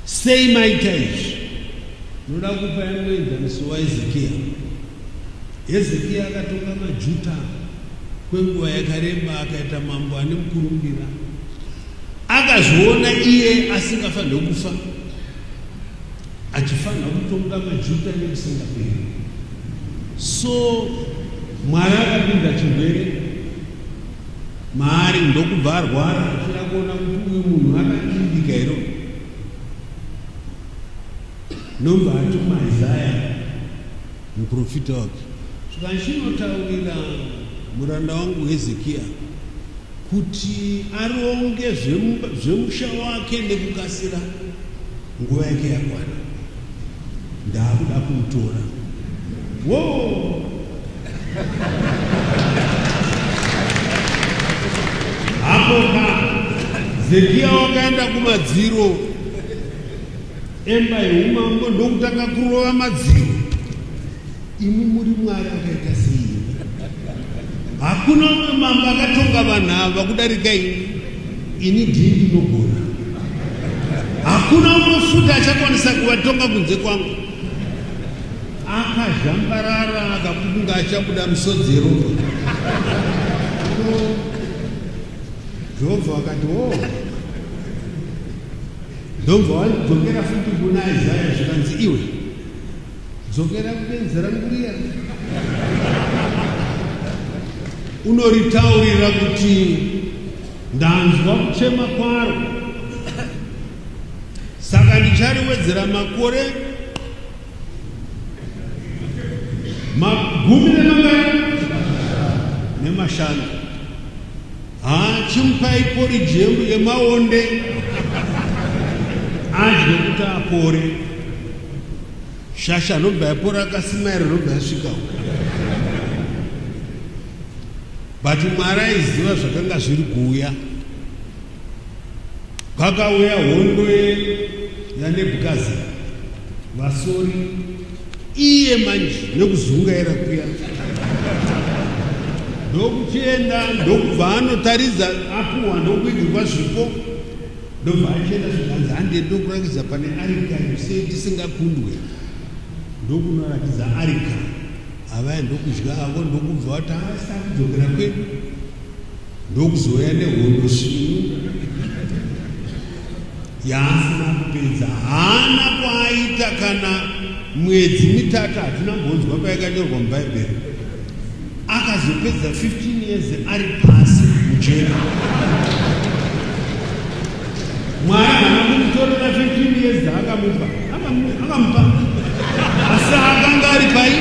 sei maita izvi ndinoda kupa yanoenzaniso waezekiya hezekiya akatonga majuta kwenguva yakareba akaita mambo ane mukurumbira akazviona iye asingafanire kufa achifanira kutonga majuta nekusingaperi so mwari akapinda chirwere maari ndokubva arwara achida kuona kuti uyu munhu akadimbika iro ndomba atuma isaya muprofita wake zvachinotaurira muranda wangu hezekiya kuti aronge zvemusha wake nekukasira nguva yake yakwana Ndaakuda kuutora. Woo! Hapo Zekia wakaenda kumadziro emba yeumambo ndokutanga kurova madziro Imi muri Mwari akaita sei? Hakuna umwe mambo akatonga vanhu ava kudarika ini. Ini ndiye ndinogona. Hakuna umwe futi achakwanisa kuvatonga kunze kwangu. Akazhambarara akakunga achabuda misodzi yeropa. Jehovha wakati wo oh. ndobva wadzokera futi kuna Isaya zvikanzi iwe Dzokera kubenzi rangu riya. Unoritaurira kuti ndanzwa kuchema kwaro, saka ndichariwedzera makore magumi nemangani nemashanu. Haa chimupai porridge yemu yemaonde adye kuti apore. Shasha anobva yapora akasimaira anobva yasvika uko. But Mwari aiziva zvakanga zviri kuuya. Pakauya hondo yeNebukadzi vasori iye manje nekuzungaira kuya ndokuchienda ndokubva anotaridza apuwa ndokuigirwa zvipo ndobva achienda zvikanzi handie ndokurakidza pane arika yose tisingakundwe ndokunorakidza arika avaya ndokudya avo ndokubva wati asakudzokera kwedu ndokuzouya nehondo svinu yaasina kupedza haana kwaaita kana mwedzi mitatu hatina mbonzwa payakanyorwa mubhaibheri akazopedza 15 years ari pasi mujeri mwari haana kumutorera 15 years akamupa akamupa asi akanga ari paii